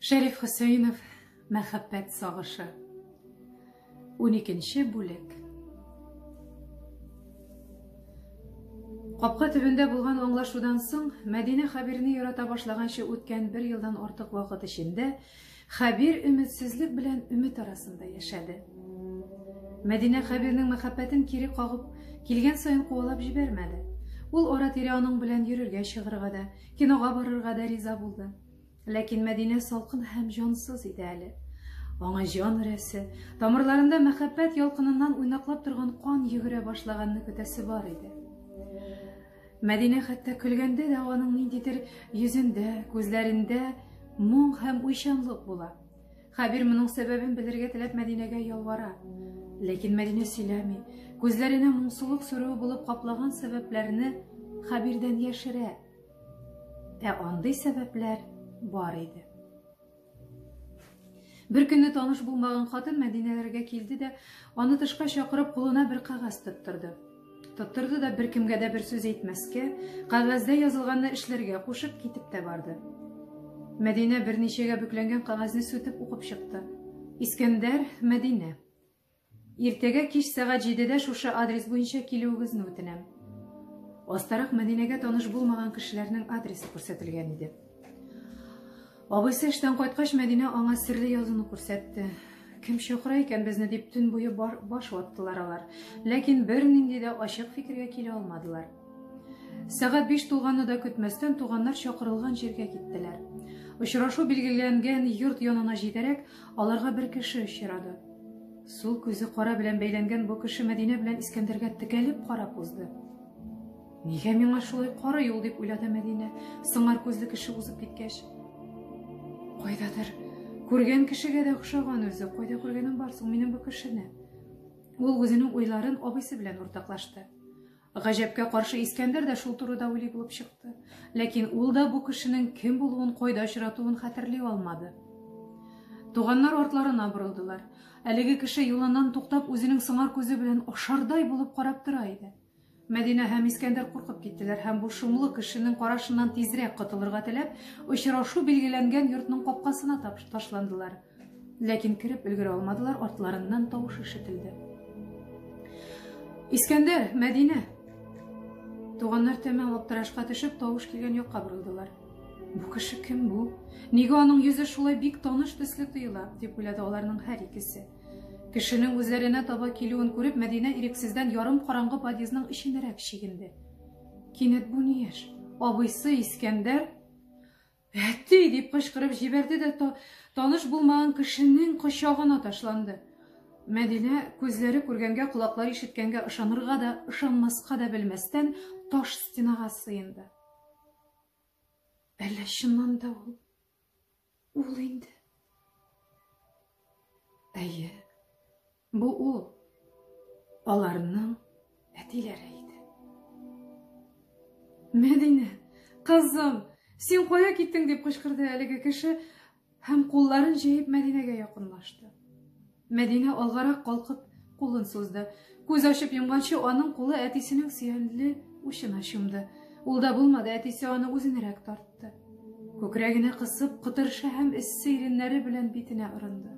Шәриф Хөсәенов мәхәббәт сагышы. 12 бүлек. Капка төбендә булган аңлашудан соң, Мәдинә Хәбирне ярата башлаганчы үткән бер елдан артык вакыт эчендә Хәбир өметсезлек белән өмет арасында яшәде. Мәдинә Хәбирнең мәхәббәтен кире кагып, килгән саен куалап җибәрмәде. Ул ара-тирә аның белән йөрергә чыгырга да, кинога барырга да риза булды. Ләкин Мәдинә салкын һәм җансыз иде әле. Аңа җан өрәсе, тамырларында мәхәббәт ялкыныннан уйнаклап торган кан йөгерә башлаганны көтәсе бар иде. Мәдинә хәтта көлгәндә дә аның ниндидер йөзендә, күзләрендә моң һәм уйчанлык була. Хәбир моның сәбәбен белергә теләп Мәдинәгә ялвара. Ләкин Мәдинә сөйләми. Күзләренә моңсулык сүрүе булып каплаган сәбәпләрне Хәбирдән яшерә. Ә андый сәбәпләр бар иде. Бер көнне таныш булмаган хатын Мәдинәләргә килде дә, аны тышка чакырып, кулына бер кагаз тоттырды. Тоттырды да бер кемгә дә бер сүз әйтмәскә, кагазьдә язылганны эшләргә кушып китеп тә барды. Мәдинә берничәгә бүкләнгән кагазьне сүтеп укып чыкты. Искәндәр, Мәдинә. Иртәгә кич сәгать җидедә шушы адрес буенча килүегезне үтенәм. Астарак Мәдинәгә таныш булмаган кешеләрнең адресы күрсәтелгән иде. Абыйсы эштән кайткач, Мәдинә аңа серле язуны күрсәтте. Кем чакыра икән безне дип төн буе баш ваттылар алар. Ләкин бернинди дә ачык фикергә килә алмадылар. Сәгать биш тулганны да көтмәстән туганнар чакырылган җиргә киттеләр. Очрашу билгеләнгән йорт янына җитәрәк, Аларга бер кеше очрады. Сул күзе кара белән бәйләнгән бу кеше Мәдинә белән Искәндәргә текәлеп карап узды. Нигә миңа шулай кара юл дип уйлады Мәдинә, сыңар күзле кеше узып киткәч. Кайдадыр күргән кешегә дә охшаган үзе, кайда күргәнем бар соң минем бу кешене? Ул үзенең уйларын абыйсы белән уртаклашты. Гаҗәпкә каршы Искәндәр дә шул турыда уйлый булып чыкты. Ләкин ул да бу кешенең кем булуын, кайда очратуын хәтерли алмады. Туганнар артларына борылдылар. Әлеге кеше юлыннан туктап, үзенең сыңар күзе белән ашардай булып карап тора иде. Мәдинә һәм Искәндәр куркып киттеләр һәм бу шомлы кешенең карашыннан тизрәк котылырга теләп, очрашу билгеләнгән йортның капкасына ташландылар. Ләкин кереп өлгерә алмадылар, артларыннан тавыш ишетелде. Искәндәр, Мәдинә! Туганнар тәмам аптырашка төшеп, тавыш килгән якка борылдылар. Бу кеше кем бу? Нигә аның йөзе шулай бик таныш төсле тоела? дип уйлады аларның һәр икесе. Кешенең үзләренә таба килүен күреп, Мәдинә ирексездән ярым караңгы подъездның эченәрәк чигенде. Кинәт бу ни яшь? Абыйсы Искәндәр Әти! дип кычкырып җибәрде дә та, таныш булмаган кешенең кочагына ташланды. Мәдинә күзләре күргәнгә, колаклары ишеткәнгә ышанырга да, ышанмаска да белмәстән таш стенага сыенды. Әллә чыннан да ул? Ул инде. Әйе. Бу ул аларның әтиләре иде. Мәдинә, кызым, син кая киттең дип кычкырды әлеге кеше һәм кулларын җәеп Мәдинәгә якынлашты. Мәдинә алгарак калкып кулын сузды. Күз ачып йомганчы аның кулы әтисенең сөянле учына чумды. Ул да булмады, әтисе аны үзенерәк тартты. Күкрәгенә кысып, кытыршы һәм эссе иреннәре белән битенә орынды.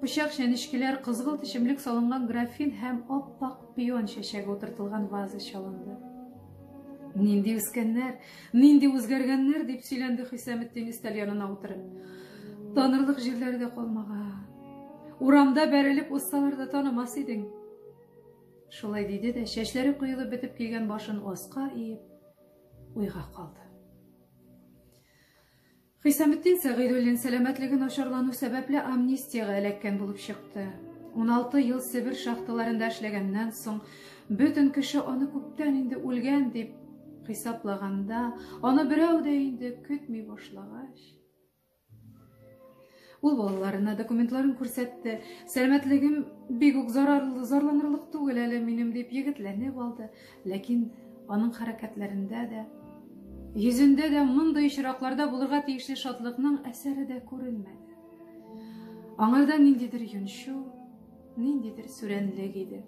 Пычак, чәнечкеләр, кызгылт эчемлек салынган графин һәм ап-ак пион чәчәге утыртылган ваза чалынды. Нинди үскәннәр, нинди үзгәргәннәр, дип сөйләнде Хисаметдин өстәл янына утырып. Танырлык җирләре дә калмаган. Урамда бәрелеп узсалар да танымас идең. Шулай диде дә, чәчләре коелып бетеп килгән башын аска иеп, уйга калды. Хисаметдин Сәгыйдуллин сәламәтлеге начарлану сәбәпле амнистиягә эләккән булып чыкты. 16 ел Себер шахталарында эшләгәннән соң, бөтен кеше аны күптән инде үлгән дип хисаплаганда, аны берәү дә инде көтми башлагач, Ул балаларына документларын күрсәтте. Сәламәтлегем бик үк зарарлы, зарланырлык түгел әле минем дип егетләнеп алды. Ләкин аның хәрәкәтләрендә дә, йөзендә дә мондый очракларда булырга тиешле шатлыкның әсәре дә күренмәде. Аңарда ниндидер йончу, ниндидер сүрәнлек иде.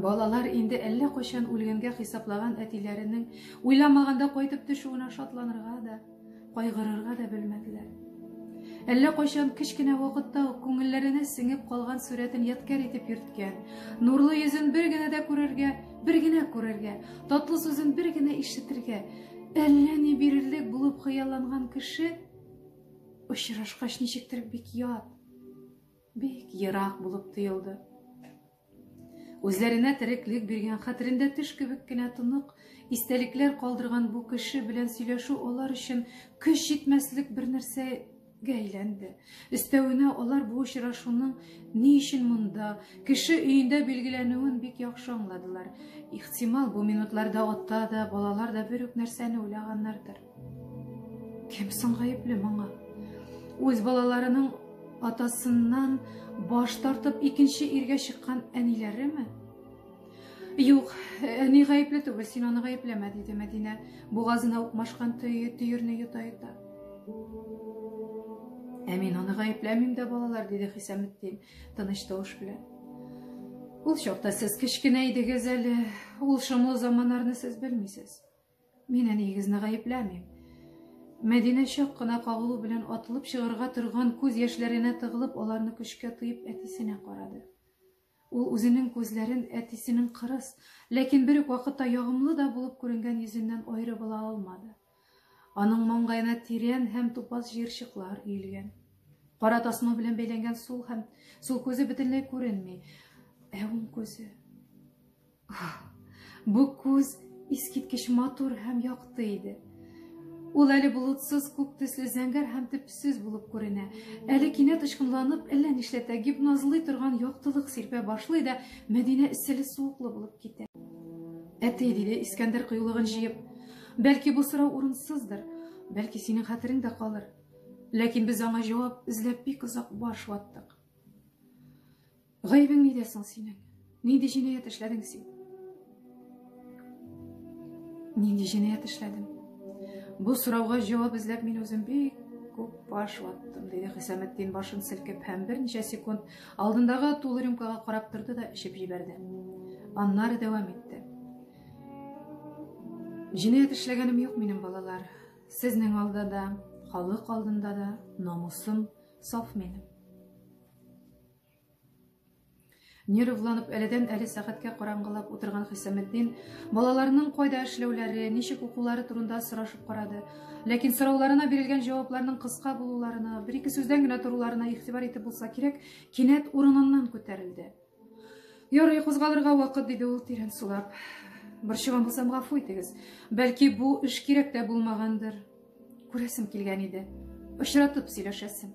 Балалар инде әллә кайчан үлгәнгә хисаплаган әтиләренең уйламаганда кайтып төшүенә шатланырга да, кайгырырга да белмәделәр. Әллә кайчан кечкенә вакытта ук күңелләренә сеңеп калган сурәтен яткәр итеп йөрткән, нурлы йөзен бер генә дә күрергә, бер генә күрергә, татлы сүзен бер генә ишетергә, әллә ни бирерлек булып хыялланган кеше очрашкач ничектер бик ят, Бик ерак булып тоелды. Үзләренә тереклек биргән, хәтерендә төш кебек кенә тонык истәлекләр калдырган бу кеше белән сөйләшү алар өчен көч җитмәслек бер нәрсәгә әйләнде. Өстәвенә алар бу очрашуның ни өчен монда, кеше өендә билгеләнүен бик яхшы аңладылар. Ихтимал, бу минутларда ата да, балалар да бер үк нәрсәне уйлаганнардыр. Кем соң гаепле моңа? Үз балаларының атасыннан баш тартып икенче иргә чыккан әниләреме? Юк, әни гаепле түгел, син аны гаепләмә, диде Мәдинә, бугазына укмашкан төйерне йота-йота. Ә мин аны гаепләмим дә, балалар, диде Хисаметдин, тыныч тавыш белән. Ул чакта сез кечкенә идегез әле, ул шомлы заманнарны сез белмисез. Мин әниегезне гаепләмим. Мәдинә чак кына кагылу белән атылып чыгарга торган күз яшьләренә тыгылып, аларны көчкә тыеп әтисенә карады. Ул үзенең күзләрен әтисенең кырыс, ләкин бер үк вакытта ягымлы да булып күренгән йөзеннән аерып ала алмады. Аның маңгаена тирән һәм тупас җыерчыклар өелгән. Кара тасма белән бәйләнгән сул һәм сул күзе бөтенләй күренми, ә уң күзе Бу күз искиткеч матур һәм якты иде. Ул әле болытсыз, күк төсле, зәңгәр һәм төпсез булып күренә. Әле кинәт очкынланып, әллә нишләтә, гипнозлый торган яктылык сирпә башлый да, Мәдинә эсселе суыклы булып китә. Әти, диде Искәндәр кыюлыгын җыеп, бәлки бу сорау урынсыздыр, бәлки синең хәтерең дә калыр. Ләкин без аңа җавап эзләп бик озак баш ваттык. Гаебең нидә соң синең? Нинди җинаять эшләдең син? Нинди җинаять эшләдем? Бу сорауга җавап эзләп мин үзем бик күп баш ваттым, диде Хисаметдин башын селкеп һәм берничә секунд алдындагы тулы рюмкага карап торды да эчеп җибәрде. Аннары дәвам итте. Җинаять эшләгәнем юк минем балалар. Сезнең алда да, халык алдында да намусым саф минем. Нервланып, әледән-әле сәгатькә караңгылап утырган Хисаметдин балаларының кайда эшләүләре, ничек укулары турында сорашып карады. Ләкин сорауларына бирелгән җавапларның кыска булуларына, бер-ике сүздән генә торуларына игътибар итеп булса кирәк, кинәт урыныннан күтәрелде. Ярый, кузгалырга вакыт, диде ул тирән сулап. Борчыган булсам, гафу итегез. Бәлки, бу эш кирәк тә булмагандыр. Күрәсем килгән иде. Очратып сөйләшәсем.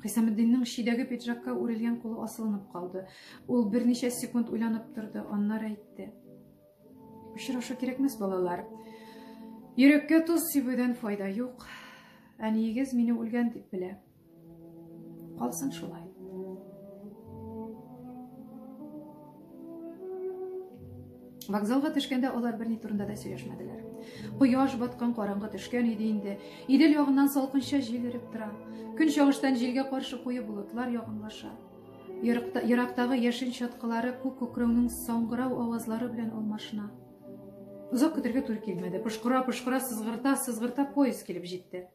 Хисамеддиннең шидәге пиджакка үрелгән кулы асылынып калды. Ул берничә секунд уйланып торды, аннары әйтте. Очрашу кирәкмәс, балалар. Йөрәккә тоз сибүдән файда юк. Әниегез мине үлгән дип белә. Калсын шулай. Вокзалга төшкәндә алар берни турында да сөйләшмәделәр. Кояш баткан караңгы төшкән иде инде. Идел ягыннан салкынча җил өреп тора. Көн чагыштан җилгә каршы куе болытлар ягынлаша. Ерактагы яшен чаткылары күк күкрәүнең саңгырау авазлары белән алмашына. Озак көтергә туры килмәде. Пошкыра-пошкыра сызгырта-сызгырта поезд килеп җитте.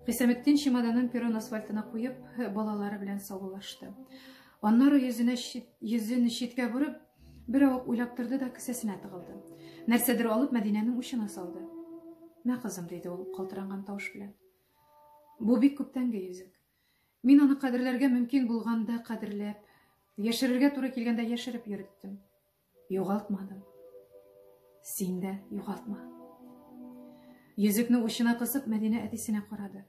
Хисаметдин чемоданын перрон асфальтына куеп, балалары белән саулашты. Аннары йөзенә чит, йөзен читкә борып, бер авык уйлап торды да кесәсенә тыгылды. Нәрсәдер алып Мәдинәнең учына салды. "Мә, кызым", диде ул калтыранган тавыш белән. "Бу бик күптәнге йөзек. Мин аны кадерләргә мөмкин булганда кадерләп, яшерергә туры килгәндә яшереп йөреттем. Югалтмадым. Син дә югалтма. Йөзекне учына кысып, Мәдинә әтисенә карады.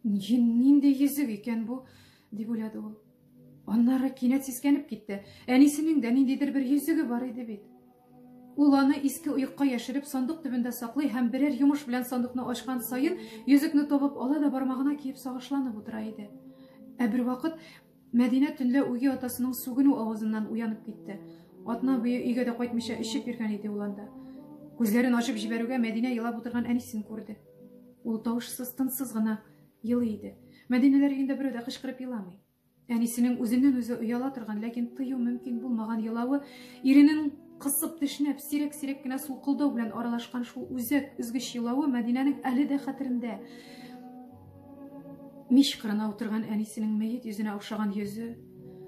Нинди йөзек икән бу? дип уйлады ул. Аннары кинәт сискәнеп китте. Әнисенең дә ниндидер бер йөзеге бар иде бит. Ул аны иске оекка яшереп, сандык төбендә саклый һәм берәр йомыш белән сандыкны ачкан саен, йөзекне табып ала да бармагына киеп сагышланып утыра иде. Ә бервакыт Мәдинә төнлә үги атасының сүгенү авазыннан уянып китте. Атна буе өйгә дә кайтмыйча эчеп йөргән иде ул анда. Күзләрен ачып җибәрүгә Мәдинә елап утырган әнисен күрде. Ул тавышсыз, тынсыз гына елый иде. Мәдинәләр өендә берәү дә кычкырып еламый. Әнисенең үзеннән-үзе ояла торган, ләкин тыю мөмкин булмаган елавы, иренең кысып тешләп, сирәк-сирәк кенә сулкылдау белән аралашкан шул үзәк, өзгеч елавы Мәдинәнең әле дә хәтерендә. Мич кырына утырган әнисенең мәет йөзенә охшаган йөзе,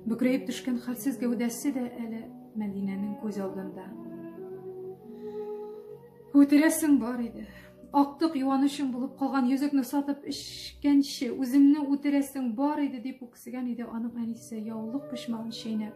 бөкрәеп төшкән хәлсез гәүдәсе дә әле Мәдинәнең күз алдында. Үтерәсең бар иде. Актык юанычым булып калган йөзекне сатып эчкәнче, үземне үтерәсең бар иде, дип үксегән иде аның әнисе, яулык почмагын чәйнәп.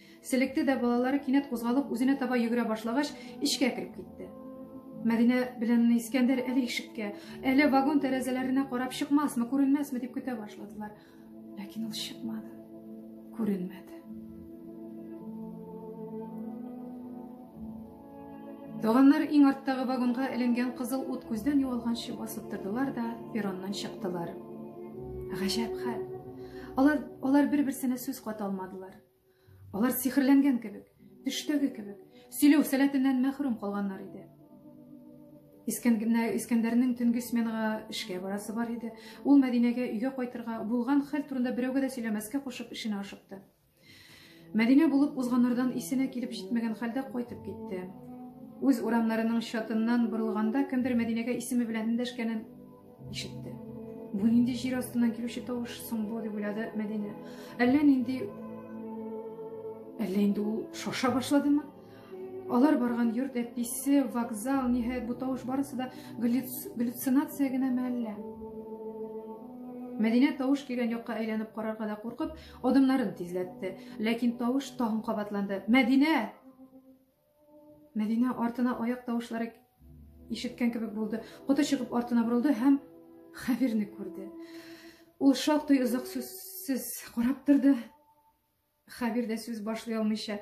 Селекте дә балалары кинәт кузгалып үзенә таба йөгерә башлагач, эчкә кереп китте. Мәдинә белән Искәндәр әле ишеккә, әле вагон тәрәзәләренә карап чыкмасмы, күренмәсме дип көтә башладылар. Ләкин ул чыкмады. Күренмәде. Туганнар иң арттагы вагонга эленгән кызыл ут күздән югалганчы басып тордылар да перроннан чыктылар. Гаҗәп хәл. Алар, алар бер-берсенә сүз ката алмадылар. Алар сихерләнгән кебек, төштәге кебек, сөйләү сәләтеннән мәхрүм калганнар иде. Искәндәрнең төнге сменага эшкә барасы бар иде. Ул Мәдинәгә өйгә кайтырга, булган хәл турында берәүгә дә сөйләмәскә кушып, эшенә ашыкты. Мәдинә булып узганнардан исенә килеп җитмәгән хәлдә кайтып китте. Үз урамнарының чатыннан борылганда кемдер Мәдинәгә исеме белән эндәшкәнен Ишетте. Бу нинди җир астыннан килүче тавыш соң бу, дип уйлады Мәдинә. Әллә нинди Әллә инде ул шаша башладымы? Алар барган йорт әтисе, вокзал, ниһаять бу тавыш барысы да галлюцинация генәме әллә? Мәдинә тавыш килгән якка әйләнеп карарга да куркып, адымнарын тизләтте. Ләкин тавыш тагын кабатланды. Мәдинә! Мәдинә артына аяк тавышлары ишеткән кебек булды. Коты чыгып артына борылды һәм Хәбирне күрде. Ул шактый озак сүзсез карап торды. Хәбир дә сүз башлый алмыйча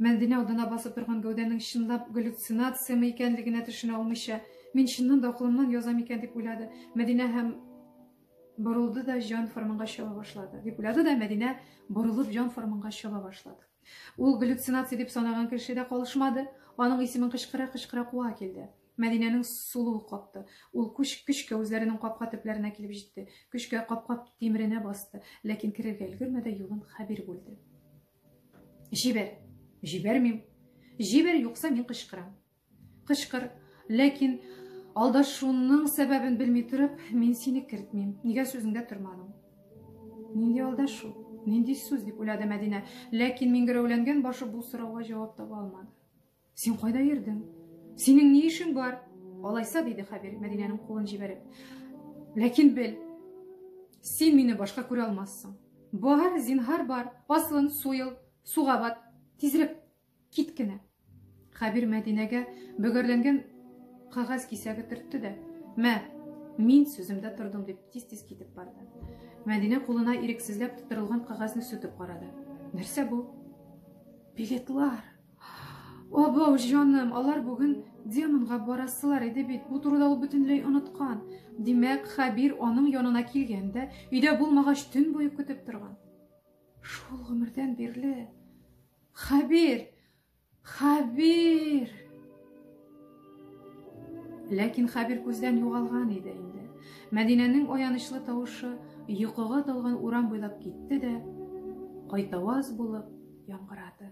Мәдинә алдына басып торган гәүдәнең чынлап галлюцинациямы икәнлегенә төшенә алмыйча, мин чыннан да акылымнан язам икән дип уйлады. Мәдинә һәм борылды да җан форманга чаба башлады. Дип уйлады да Мәдинә борылып җан форманга чаба башлады. Ул галлюцинация дип санаган кеше дә калышмады. Аның исемен кычкыра-кычкыра куа килде. Мәдинәнең сулуы капты. Ул күш көчкә үзләренең капка төпләренә килеп җитте. Көчкә капка тимеренә басты, ләкин керергә өлгермәде, юлын Хәбир бүлде. Җибәр. Җибәрмим. Җибәр, юкса мин кычкырам. Кычкыр. Ләкин алдашуның сәбәбен белми торып, мин сине кертмим. Нигә сүзеңдә тормадың? Нинди алдашу? Нинди сүз дип уйлады Мәдинә. Ләкин миңгерәүләнгән башы бу сорауга җавап таба алмады. Син кайда йөрдең? Синең ни эшең бар? Алайса, диде Хәбир Мәдинәнең кулын җибәреп. Ләкин бел, син мине башка күрә алмассың. Бар, зинһар бар. Аслын, суел, суга бат. Тизрәк Кит кенә! Хәбир Мәдинәгә бөгәрләнгән кагаз кисәге төртте дә, мә, мин сүземдә тордым, дип тиз-тиз китеп барды. Мәдинә кулына ирексезләп тутырылган кагазны сүтеп карады. Нәрсә бу? Билетлар! Абау, җаным, алар бүген демонга барасылар иде бит, бу турыда ул бөтенләй оныткан. Димәк, Хәбир аның янына килгән дә, өйдә булмагач, төн буе көтеп торган. Шул гомердән бирле Хәбир! Хәбир! Ләкин Хәбир күздән югалган иде инде. Мәдинәнең аянычлы тавышы йокыга талган урам буйлап китте дә, кайтаваз булып яңгырады.